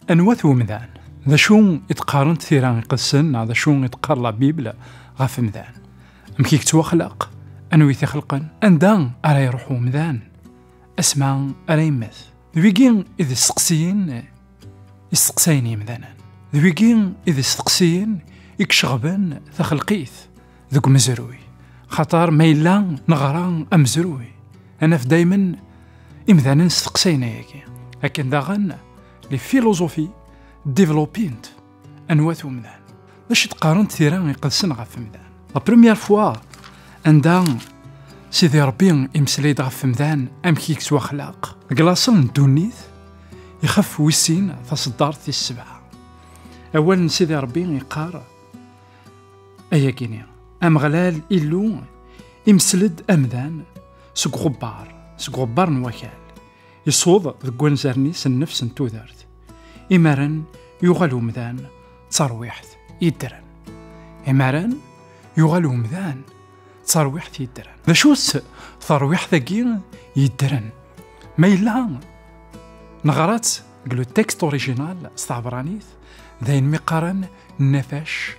Anwa-t umdan? D acu i d-qqarent tira iqedsen neɣ d acu i d-qqar la Bible ɣef umdan? Amek i yettwaxlaq? Anwa i t-ixelqen? Anda ara iruḥ umdan? Asma ara yemmet? D wigi i d isteqsiyen Isteqsayen yimdanen. D wigi i d isteqsiyen i iceɣben taxelqit deg umezruy. Xaṭer ma yella neɣra amezruy, ad naf daymen imdanen steqsayen ayagi. Akken daɣen, les philosophies développent Anwa-t umdan? D acu d-qqarent tira iqedsen ɣef umdan? La première fois anda Sidi Ṛebbi imeslay-d ɣef umdan amek i yettwaxlaq deg laṣel n ddunit ixef wis sin taṣeddart tis sebɛa. Awal n Sidi Ṛebbi iqqar ayagi-ni Ameɣlal Illu imsel-d amdan seg uxebbar seg uxebbar n wakal Iṣuḍ deg wanzaren-is nnefs n tudert. Imaren yuɣal umdan d tarwiḥt yeddren. Imaren yuɣal umdan d tarwiḥt yeddren. D acu-tt tarwiḥt-agi yeddren? Ma yella neɣra-tt deg le texte original s tɛebranit d ayen mi qqaren nnafac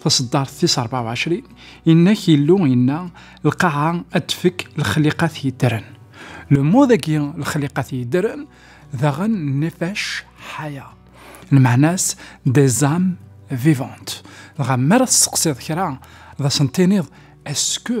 taṣeddart tis 24 inna-k Illu inna lqaɛa ad tfek lexliqat yeddren lmud-agi lexliqat yeddren daɣen nifac ḥaya lmeɛna-s des âmes vivantes dɣa mi ara tesseqsiḍ kra d asen-tiniḍ est-ce que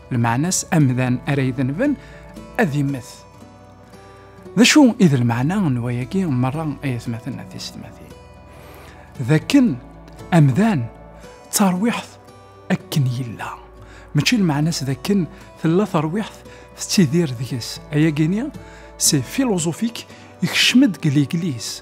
Lmeɛna-s amdan ara idenben ad immet. D acu i d lmeɛna n wayagi merra ay atmaten a tisetmatin? D akken amdan d tarwiḥt akken yella. Mačči lmeɛna-s d akken tella tarwiḥt tettidir deg-s. Ayagi-ni si filozufik ikcem-d deg liglis.